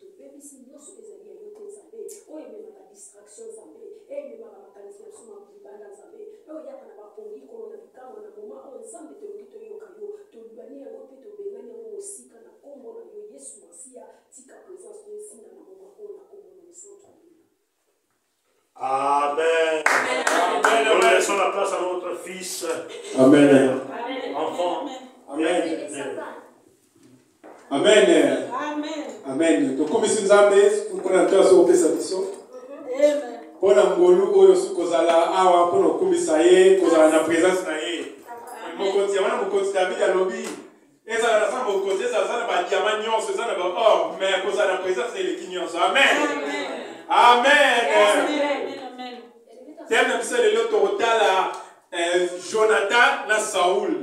Tobebisi nyoso ezali ya yo te Nzambe, oyo ememaka distraction Nzambe, ememaka makanisi na biso ma libanda Nzambe, oyo eyaka na bapongi kolo na bikamwa na moma oyo Nzambe tolingi toyoka yo, tolibani yango mpe tobengani yango mosika na kombo na yo Yesu Masiya, tika presence no ezinda na moma oyo na kombo na mosantu ya Bikolo. Amen. On laisse la place à notre fils. Amen. Enfant. Amen. Amen. Amen. tokomisi nzambe mpona nto aso kopesa biso mpo na ngolu oyo osi kozala awa mpo na kokumisa ye kozala na présence na ye mokonzi ya wana mokonzi david alobi ezala naza mokonzi ezala aza na badiama nyonso eza na baor me kozala na présence na eleki nyonso amen amen teme na biso lelo tokotala eh, jonathan na saul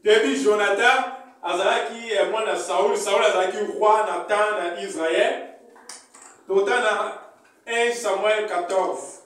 toyebi jonathan azalaki eh, mwana saul saul azalaki roi na temps na israel tokotala na 1 samuel 14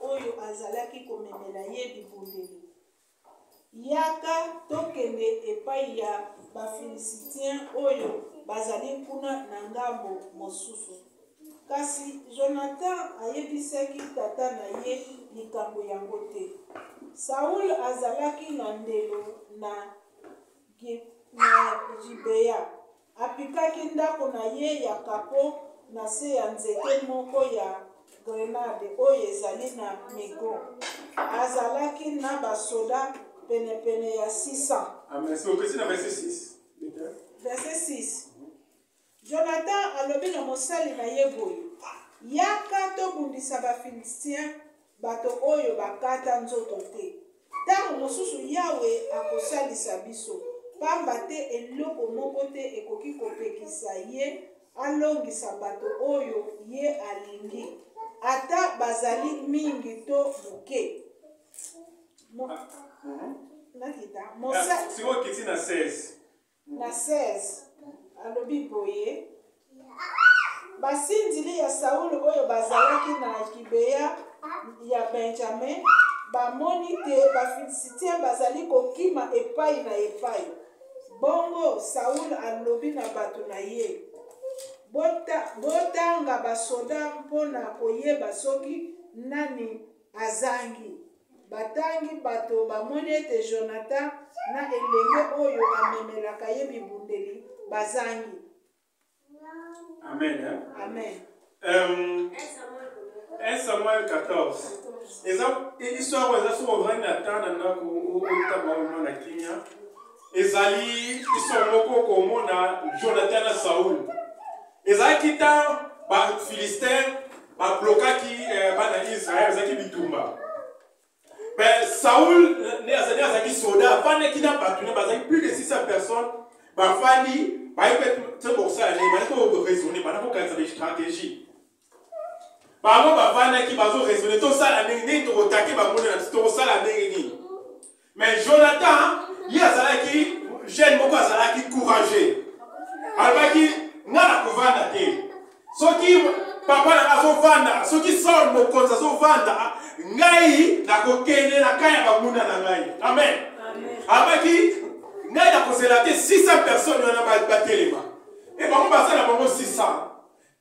oyo azalaki komemela ye bibundeli. Yaka tokende epai ya Bafilisitien oyo bazali kuna na ngambo mosusu. Kasi Jonathan ayebisaki tata na ye likambo yango te. Saul azalaki na ndelo na Gibea. Apikaki ndako na ye ya kapo na se ya nzete moko ya grenade oyo ezali na migo. Azalaki na basoda penepene ya 600. Amen. So, okesi na verse 6. Verse 6. Jonathan alobi na mosali na ye boye, Yaka tobundisa Bafilistia Bato oyo bakata nzoto te. Ntango mosusu Yawe akosalisa biso, pamba te eloko moko te ekoki kopekisa Ye alongisa bato oyo Ye alingi, ata bazali mingi to moke. Mo... Ah, ah, mhm. Nakita. Mosa... Ah, Na 16, alobi boye, Basindili ya Saul oyo bazalaki na Gibea ya Benjame bamoni te Bafilisitien bazali kokima epai na epai. Bongo Saul alobi na bato na ye, Botanga basoda mpo na koyeba soki nani Azangi. Batangi bato bamoni ete Jonathan na elenge oyo amemelaka ye bibundeli bazangi. Amen. Amen. Um, 1 Samuel 14. eza histoire oyo eza soki ovandi ata na ndako otanga oyo na kimia ezali histoire moko okomona jonathan na saul ezalaki ntango bafilistin bablokaki eh, bana israel ezalaki bitumba me saul nde azalaki soda afandaki na bato ne bazalaki plus de 600 personnes bafandi bayebi te bokosala nini bandi koraisonne banda kokanisa bastratégie bango bafandaki bazoraisonne tosala ndenge nini tokotake bango na biso tokosala ndenge nini Mais Jonathan, il y a Zalaki, jeune beaucoup Zalaki courageux. Alaki, n'a la couvana te. Ce qui, papa n'a pas vanda, ce qui sort mon compte, ça vanda, ngai, n'a kokene, n'a kaya bamouna n'a ngai. Amen. Alaki, ngai n'a kozela te 600 personnes, n'a pas de téléma. Et bon, on va faire la 600.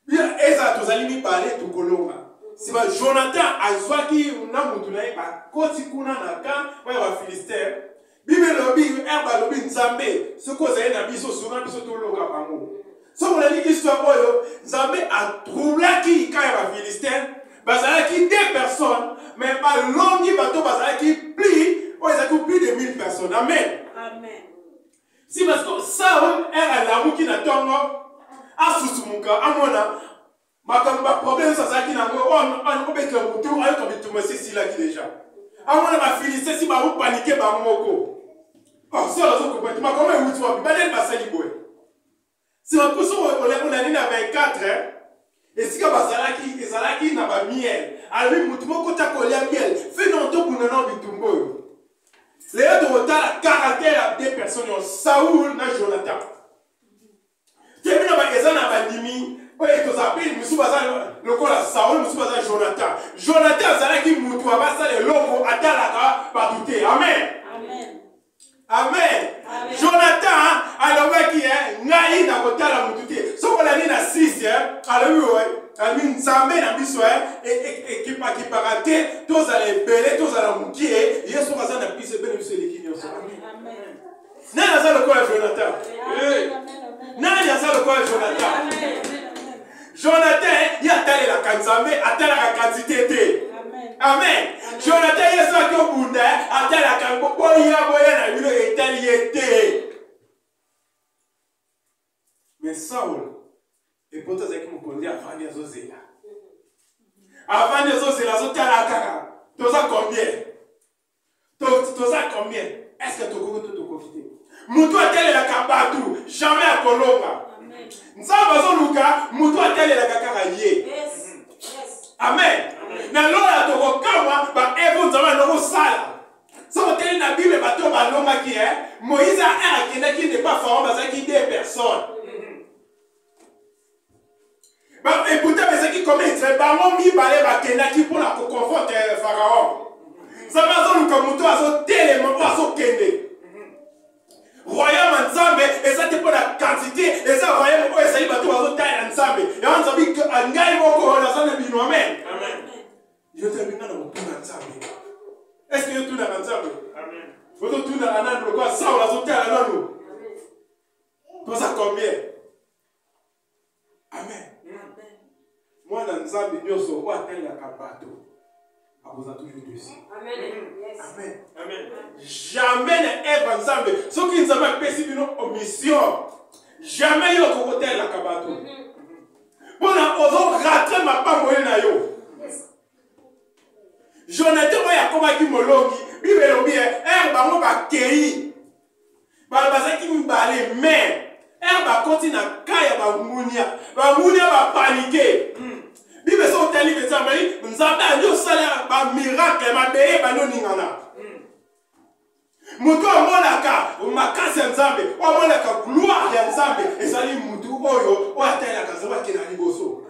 Bia ezala tozali mibale tokolonga. Sima Jonathan azwaki na motu na ye bakoti kuna na kan mpo ya bafilistere. Biblia elobi ere balobi Nzambe soki ozali na biso sunga biso toloka bango. Soki olandi histoire oyo Nzambe atroublaki ka ya bafilistere bazalaki deux personnes mais balongi bato bazalaki plus oyo ezalaki plus de 1000 personnes. Amen. Amen. si parce que saul ere alamuki na ntongo asusumuka amona makambo baproblème nyonso azalaki na yango oyo obetela motu ayoka bitumba esi esilaki deja amona bafiliste si baopanike bango moko saul azokopa te makambo ewuti wapi banani basali boye Sima poso olandi na 24 esika bazalaki ezalaki na ba miel alobi motu moko ta kolia miel fe na otobunda na bitumba oyo lelo tokotala caractère ya deux personnes oyo saul na jonathan temi na eza na bandimi oyo tozala mpe mosusu baza lokola saul mosusu baza jonathan jonathan azalaki motu abasala eloko atalaka bato te amen amen jonathan alobaki ye eh, ngai nakotala motu te soki olandi na 6 eh, alobi oye eh, alobi nzambe na biso ekipakipaka te tozala ebele tozala mokie ye soki aza na biso ebele biso eleki nyonso nani aza lokola jonathan nani aza lokola jonathan Jonathan ye atalelaka Nzambe, atalaka quantité te. Amen. Jonathan ye soki obunda atalaka boya boya na bino etali ye te. Mais Saul epoto azalaki mokonzi avandi azozela avandi azozela azotala kaka toza combien toza combien est ce que tokoki to tokoki te motu atelelaka bato jamais akolonga nzambe azoluka motu atelelaka kaka ye amen na lola tokokamwa baevo nzambe ando kosala soki oteli na bible bato oyo balongaki e moïse aer akendaki nde pa farao bazalaki de personne ekuta ezaki kometre bango mibale bakendaki mpo na koconforte eh, faraon nzambe azoluka moto azotelema mpo azokende royaume ya nzambe eza te mpo na quantité eza royaume oyo ezali bato bazotalela nzambe yango nzambe ngai moko naza na bino amen yo te abinga na kotuna nzambe estce yo tunaka nzambe ozotunaka nanu lokola saul azotala nanu toza combien amen mwana nzambe nyonso oyo atangaka bato akozala toujours desi jamais na eva nzambe soki nzambe apesi bino omission jamais yo okokotelaka bato mpona mhm. ozo ratre mapango ye na yo jonathan oyo akomaki molongi bible elobi ere eh, bango bakei bana bazalaki mibale mais ere bakoti na ka ya bangunia bangunia bapanike hmm. bible so otali mpenza mai nzambe andi osala bamiracle mabele ebandi oningana hmm. moto amonaka makasi ya nzambe oyo amonaka gloire ya nzambe ezali motu oyo oyo atalelaka nzambe akenda liboso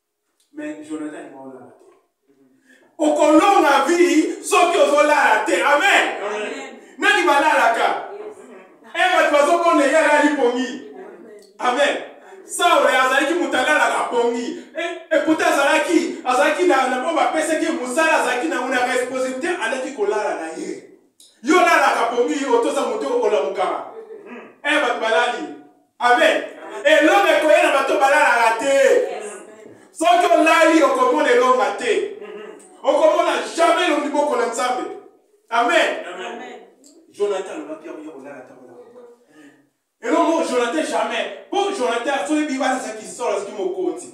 mais jonathan alinga olala te okolonga vie soki ozolala te amen nani balalaka e bato bazobona ye alali pongi amen saule azalaki moto alalaka pongi ekuta azalaki azalaki na oyo bapesaki mosala azalaki nango na responsabilité alaki kolala na ye yo olalaka pongi yo otoza moto oyo olamukaka e bato balali amen elonga ekoya na bato balalaka te soki olali okomona elonga te okomona jamais elongi boko na nzambe amen jonathan alobaki yango ya kolala ntango elongo jonathan jamais mpo jonathan soki biba azalaki solo azalaki mokonzi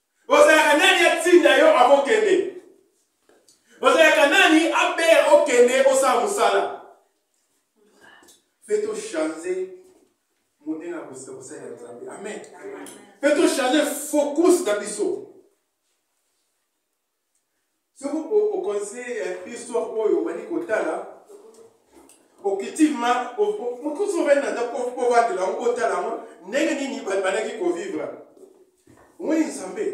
ozalaka nani atinda yo akokende ozalaka nani abere okende osala mosala mpe tochange modele ya kosalela nzambe amen mpe tochange focus na biso soki okonsidere ya histoire oyo obandi kotala okitima mokusu ovandi na ndako ovandela yango otala yango ndenge nini bandaki kovivre omoni nzambe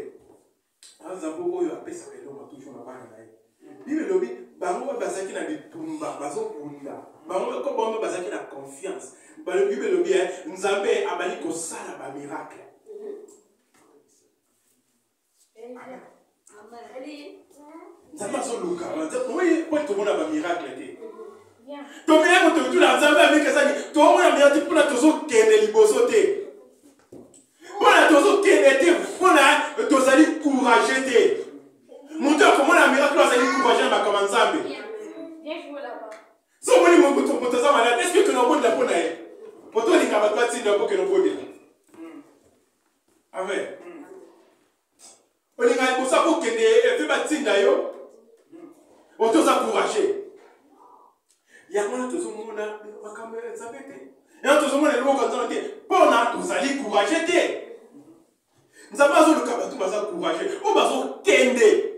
nzambe oyo apesaka eloko toujours na bana na ye bible elobi bango oyo bazalaki na bitumba bazobunda bango eko bango bazalaki na confiance bible elobi eh, nzambe abandi kosala bamiracle nzambe azoluka oye po tomona bamiracle te tokeya kototula nzambe amiki ezali tomona mirati mpona tozokende liboso te mpona tozokende te mpona tozali courage te moto akomona miracle azali courage na makambo ya nzambe so omoni moto aza malade eske okende obondela mpo na ye moto olinga bato atinda okokende obondela amen olingaka liboso akokende epe batinda yo otoza courage yango wana tozomona makambo ya nzambe te yango tozomona eloko nzambe te mpona tozali courage te nzambe azoluka bato baza courage oyo bazokende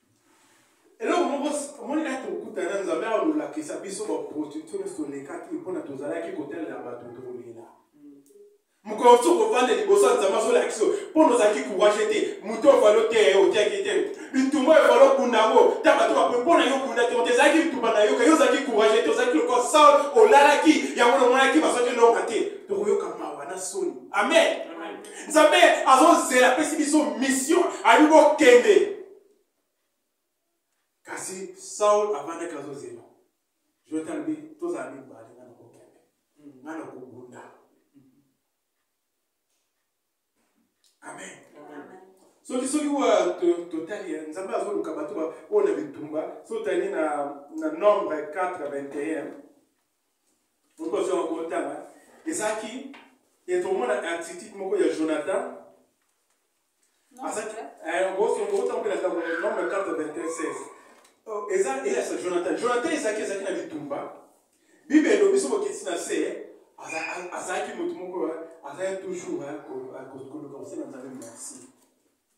eloko moko omoni nati tokuta na nzambe awa lolakisa biso baprostitutio nyonso tolekaki mpona tozalaki kotalela bato tolela mokolo mosusu kovanda liboso ya nzambe azolakisa mpona ozalaki kuwashe te moto ovali oteya ye otiaki te bitumba evali okunda yango ta bato bapo mpona yo okunda te ote ezalaki bitumba na yoka yo ozalaki kuwashe te ozalaki lokola saul olalaki yango nomonaki bazwaki elonga te tokoyoka mawa na soni amen nzambe azozela apesi biso mission ayebi kokende kasi saul avandaki azozela jonathan alobi tozala mibale nga nakokende nga nakobunda amen soki soki totali nzambe azoluka bato oyo na bitumba soki otali na nombre 4 21 okozwa yango kotanga ezalaki etomona attitude moko ya jonathan okotambola eh, ntango nombre 4 eza eyasa jonathan jonathan ezalaki ezalaki na bitumba bible elobi so bokiti na se azalaki moto moko azalaki toujours koluka kosala nzambe merci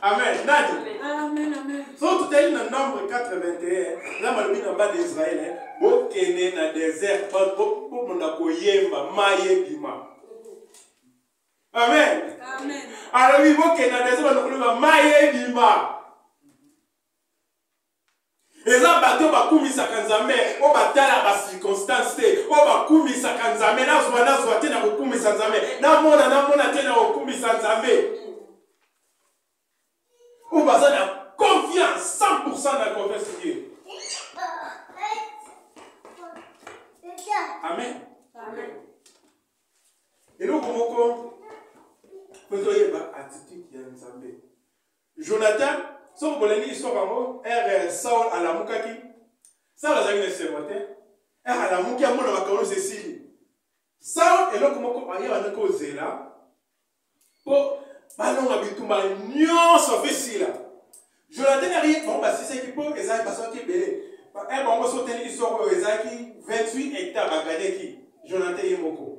amen nani soki totali na nombre 81 na malobi na bana israel eh, bokende na desert bomona koyemba maye ebima amen alobi bokende na desert bana koloba maye ebima eza bato oyo bakumisaka nzambe oyo batala bacirconstance te oyo bakumisaka nzambe nazwa nazwa te na kokumisa nzambe namona namona te na kokumisa nzambe oyo baza na confiance 100 na confiance ye amen eloko moko ozoyeba attitude ya nzambe Jonathan, soki bolingi lisoko yango, ere eh, Saul alamukaki, Saul azalaki na esengo te, ere eh, alamuki amona makambo nyonso esili. Saul eloko moko aye banda kozela mpo balonga bitumba nyonso mpe sila. Jonathan aye bango basisaki mpo ezalaki basoki ebele. Eh, bango soteli lisoko oyo ezalaki 28 hectare baganeki Jonathan ye moko.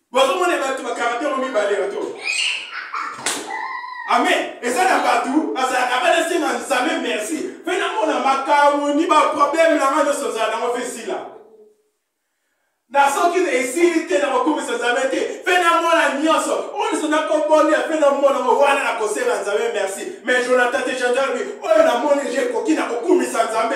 bozomona bato bakarate yango mibale bato amen eza na bato bazalaka banasenga nzambe merci mpe namona makambo ni baproblème na ngai nyonso ozala nango mpe esila na soki esili te na kokumisa nzambe te mpe namona nyonso oyo nyonso nakobonia mpe namona ngo wana nakosenga nzambe merci mais jonathan te janjalobi oyo namoni je ekoki na kokumisa nzambe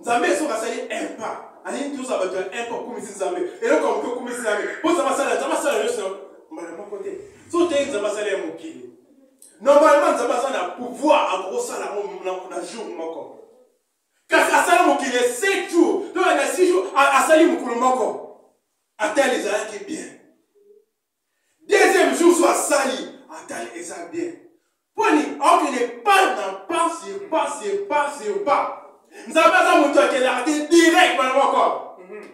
nzambe soki asali impa alingi tozala bato ya impa okumisi nzambe eloko moke okumisi nzambe mpo nzambe asala nzambe asala nyonso mbala moko te so oteyi nzambe asala ya mokili normalement nzambe aza na pouvoir akokosala yango na jour moko kasi asala mokili ya 7 jour to na 6 jour asali mokolo moko ata ezalaki bien deuxième jour so asali atali eza bien mponi aokende pas na pas sur pas sur pas sur pas nzambe aza moto akelaka te direct bana moko mhm.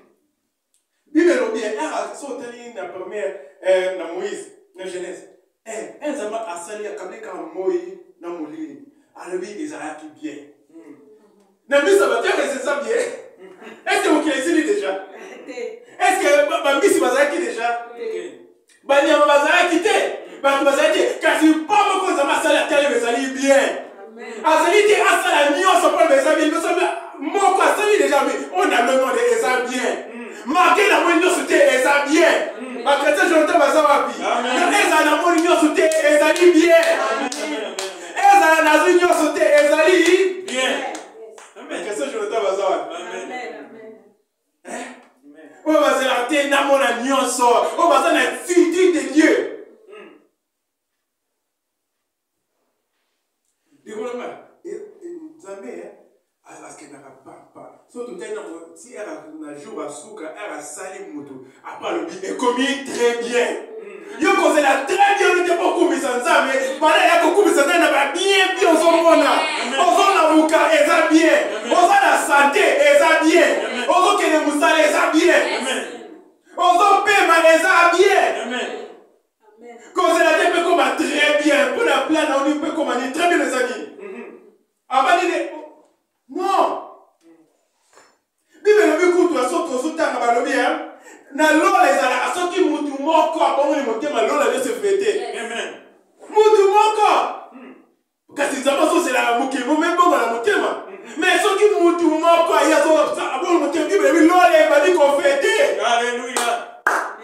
bible elobi era so otali na première eh, na moïse na genèse eh, eh, nzambe asali akabeka moi na molili alobi ezalaki bien na miso ya bato rs eza bie eske mokili esili deja eske bambisi bazalaki deja banyama bazalaki te bato bazalaki te kasi mpo moko nzambe asali atalema ezali bien azali te asala nyonso mpo eza bien biso moko asali deja mi oyo na lomode eza bien marke na moi nyonso te eza bien bakretien jonathan baza wapi ezala na moi nyonso te ezali bien ezala nazwi nyonso te ezali bien question jonathan baza wapi oyo bazalaka te namona nyonso oyo baza na futur de dieu hmm. dekolonga eh, eh, nzambe eh, akendaka papa so totali nango ti r na jour asuka r asali moto apa alobi ekomi très bien hmm. yo kozela très bien olite bokumisa nzambe bana ya kokumisa nzambe na babien bi ozomona ozo na moka eza bien oza na sante eza bien ozokende mosala eza bien ozopema eza bien kozela te mpe koma très bien mpo na plan na oni mpe koma ni très bien eza nini abandi ne non bibele elobi kutu ya soki ozotanga balobi ya na lola ezalaka soki mutu moko abongoli motema lola nyonso efete mutu moko hmm. kasi nzambe azozelaka mokili mo mebongola motema hmm. mais soki mutu moko aye abongoli motema bibele elobi lola ebandi kofete aleluya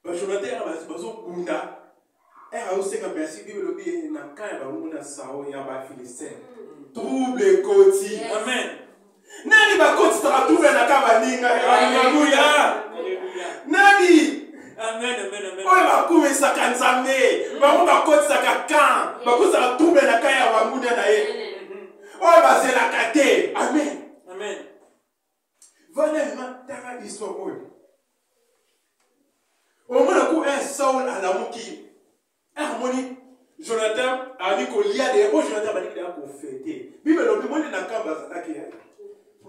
Ba Jonathan ba bazo bunda. Eh ayo seka merci Bible lobi eh, na kaya ba nguna sao ya ba Philistins. Trouble koti. Amen. Nani ba koti ta trouble na kaba ninga. Alléluia. Nani? Amen amen amen. Oyo ba kumisaka Nzambe. Bango ba kotisaka kan. Ba kotisaka trouble na kaya ba nguna na ye. Oyo bazelaka te. Amen. Amen. vanda nga tanga histoire oyo omona ku un saul alamuki amoni jonathan ami kolia de po jonathan baliki deya kofete bible elobi moni na kamba azalaki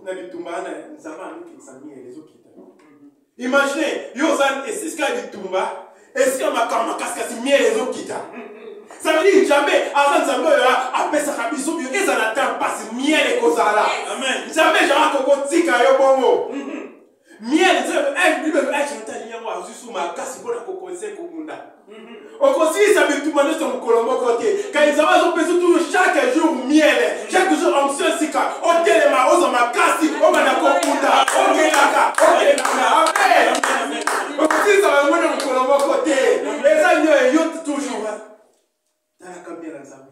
na bitumba wana nzambe amikitisa miele ezokita Imaginez, yo oza esika ya bitumba esika makambo makasikasi miele ezokita ça veut dire jamais aza nzambe oyo apesaka biso bio ezala ta mpasi miele ekozala nzambe ezalaka kokotika yo bongo miele bible echantalinyango azwi su makasi mpo na kokonse kobunda okosilisa bitumba nyonso mokolo moko te kaizaba azopesa tulu chaque jour miele chaque jour onction sika otelema ozwa makasi obanda kokuta okelaka okelaka amen okosilisa bango na mokolo moko te eza nyo eyo toujours talaka mbela nzambe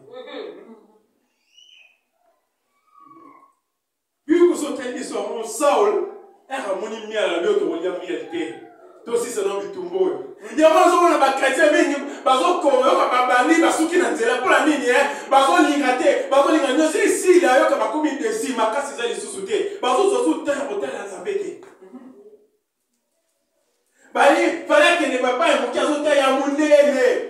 Puis koso tali biso yango Saul eka amoni mia na leo tokolia mia te tosisa na bitumba oyo yango nazomona bakretien mingi bazokoyoka babandi basuki na nzela mpo na nini e eh? bazolinga te bazolinga nyonso esili ayoka bakomi desi makasi eza lisusu te bazozwa su tala kotala ya nzambe te bali fale akende papa ya moke azotala ya monene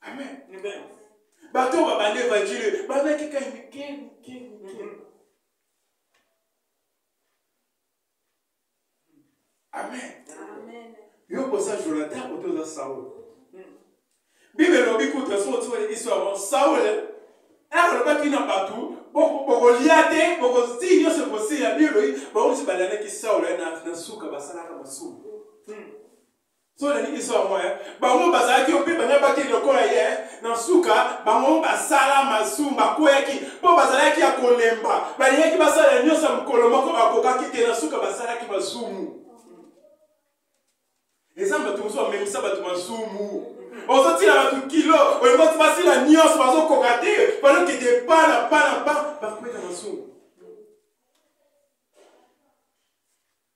amen amen bato oyo babanda evanjile bandaki kai mike mike mike amen yo kosa jonathan oto oza saul bible elobi kuta soki otikoli histoire yango saul alobaki na bato bokolya te bokozii nyonso ekosila bible elobi bango nyonso balandaki saul na suka basalaka masumu so nalingi so yango eh. bango bazalaki yo mpe bana bakende lokola ye eh. na nsuka bango basala masumu bakweyaki mpo bazalaki ya kolemba balingaki basala nyonso ya mokolo moko bakokaki te na nsuka basalaki masumu eza bato mosusu bamemisa bato masumu ozotina bato kilo olingi oti basila nyonso bazokoka te balokende pa na pa na pa bakweta masumu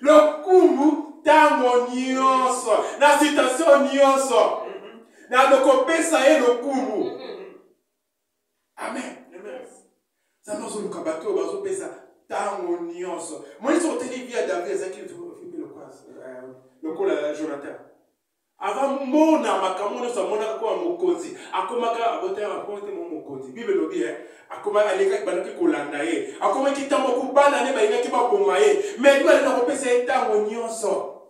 lokumu ntango nyonso na sitasio nyonso na tokopesa ye lokumu amen nzambe azoluka bato oyo bazopesa ntango nyonso moyisi oteli bia david ezalaki lokola euh, jonathan avamona makambo nyonso amonaka koma mokonzi akomaka abotaya bakoma te mo mokonzi bible elobi e akoma alekaki bandaki kolanda ye akomaki ntango kobana nde balingaki baboma ye me liba lena kopesa ye ntango nyonso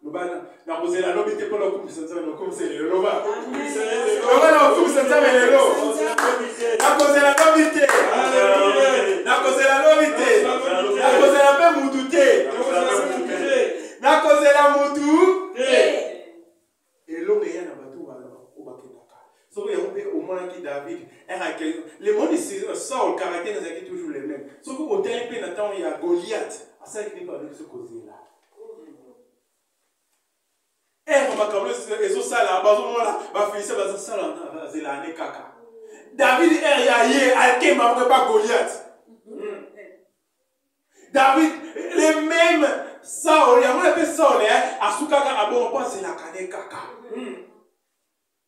loba nakozela lobi te mpona okumisa nzambe nakumisa lelo loba loba naokumisa nzambe lelo nakozela lobi te nakozela lobi te nakozela mpe mutu te nakozela mutu elonga eya na bato oyo bakendaka soko yango mpe omonaki david le monde saul caractère ezalaki toujours le même soki otali mpe na ntango ya goliath asalaki nde baluki sokozela ere eh, makambo ezosala bazomona bafilise bazosala zela ane kaka david ere ya ye akemba moko epa goliath hmm. david le meme saol yango na mpe saol eh, asukaka abongo mpo azelaka ne kaka hmm.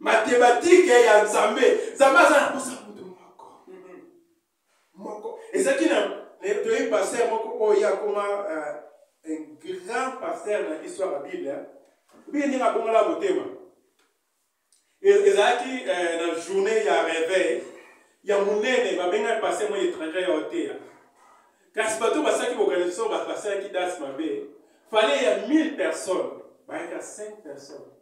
matematike ya nzambe nzambe aza na posa moto moko moko ezalaki na toyebi paster moko oyo ye akoma euh, un grand paster na histoire ya bible biye ndenge abongola motema e-, ezalaki euh, na journée ya réveil ya monene babengaki paster moko étranger ya oteya kasi bato basalaki organisation basalaki dance mabe fale ya 1000 personnes bayaka 5 personnes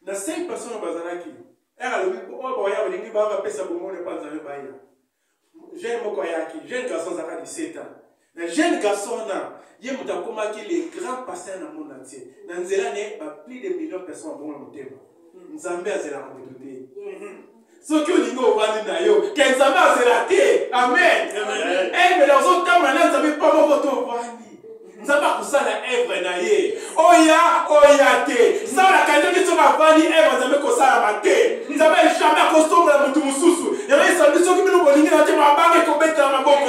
na 5 personnes bazalaki ere alobi mpo oyo bawaya balingi baa bapesa bomone mpo anzambe baya jeune moko ayaki jeune garçon azaka 17 ans na jeune garçon wana ye moto akomaki le grand pasteur na monde entier na nzela ne ba plus de million personnes babongo na motema nzambe azelaka moto te soki olingi ovandi na yo ke nzambe azela te amen evre ozotambola na nzambe mpo moko to ovandi nzambe akosala evre na ye oya oya te salaka ndenge soki avandi evre nzambe kosalama te nzambe jamai akosombola motu mosusu yango esabi soki bino bolingi na te mabanga ekobetela maboko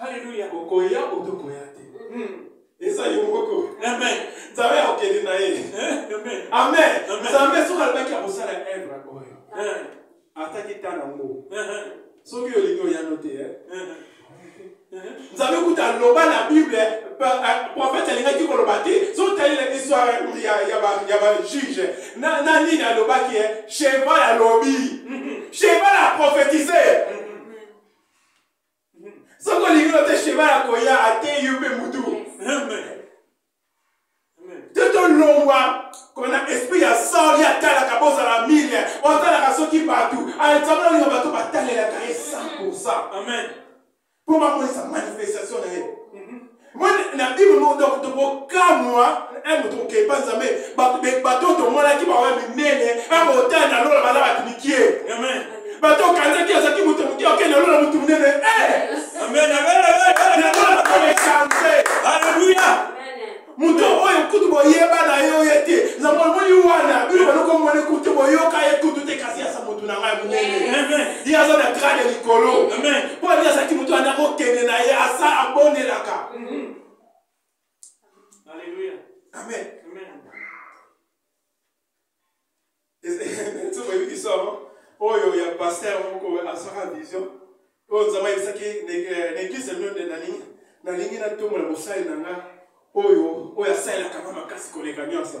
Hallelujah. Okoya ou tokoya te. Hmm. eza yo moko amen nzambe akokende na ye amen nzambe soki alobaki akosala evre oyo ataki ta nango soki olingi oyano te nzambe kuta aloba na bible profete alingaki koloba te sotalela histoire ya bajuge na nini alobaki cheval alobi cheval aprofetise soki olingi no te shema ya koya ateyi yo mpe mutu te tolongwa kona esprit ya sor ye atalaka bozala mile otalaka soki bato alexandre olinga bato batalelaka ye 100 mpo bamonisa manifestation na ye mwana na bible moko donc tokokamwa eh, moto kokepa nzambe bato oyo tomonaki baoya minene bakotala na lola baza bato mikie bato okanzaki azalaki moto moke okende na lola moto monene aleluya moto oyo kutu boyeba na yo ye te nzambe omoni wana bino banokomona kutu boyoka ye kutu te kasi asa moto na ngai monene ye aza na grade ya likolo mpo ye azalaki moto wana kokende na ye asa abondelaka mhm. amen soki oyebi kisomo oyo ya paster moko asaka vision oyo nzambe ayebisaki neglise mino nde nalingi nalingi natombola mosali na nga oyo oyo asalelaka nga makasi koleka nyonso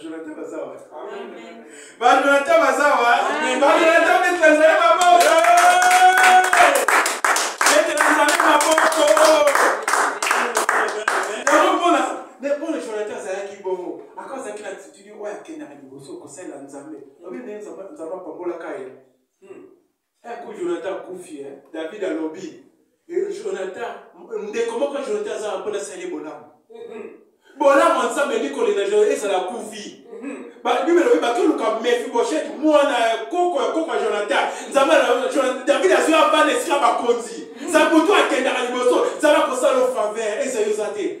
Jonathan Bazawa. Amen. Ba Jonathan Bazawa. Amen. Ba Jonathan Betanzania Maboko. Betanzania Maboko. Yango mpona mpona Jonathan azalaki bongo aka azalaki na attitude oyo akendaka liboso kosalela Nzambe obi nde Nzambe apambolaka ye Eh, ko Jonathan akufi eh? David alobi eh, Jonathan ndeko moko Jonathan azala mpo nasali ye bolamu mhm. bolamu ya Nzambe elingi kolinga Jonathan ezala akufi mhm. bibele elobi bakoluka mefiboshete mwana ya koko ya koko ya Jonathan Nzambe David azwi avanda esika bakonzi mhm. Nzambe moto akendaka liboso Nzambe akosala ofavere ezali oza te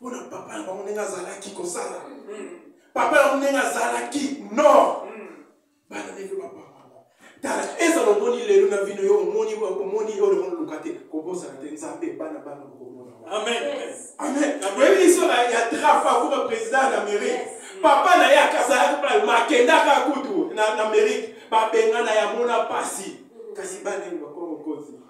mpo na papa na bango ndenge azalaki kosala papa na bango ndenge azalaki nord bana ndenge papa tala ezala omoni lelo na vino yo omoni omoni yo olongo luka te kobosana te nzambe bana bana okomona amen amen oyebi liso ya trafa kuba président ya amérique papa na ye akazalaki pale makendaka kutu na amérique babengana ya mona pasi kasi bana ye bakoma mokonzi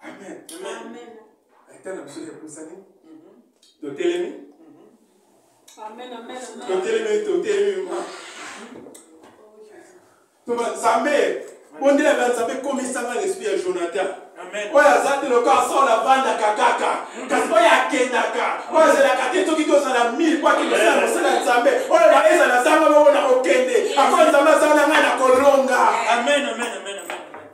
amen amen ata na biso epusani totelemi totelemi totelemi ma toba nzambe bondela na nzambe komisanga na esprit ya jonathan oyo aza te loka asola avandaka kaka kasi oyo akendaka oyo azelaka te soki tozala mille po akende osala mosala ya nzambe oyo baezala azanga bongo na kokende ako nzambe azala ngai na kolonga amen amen amen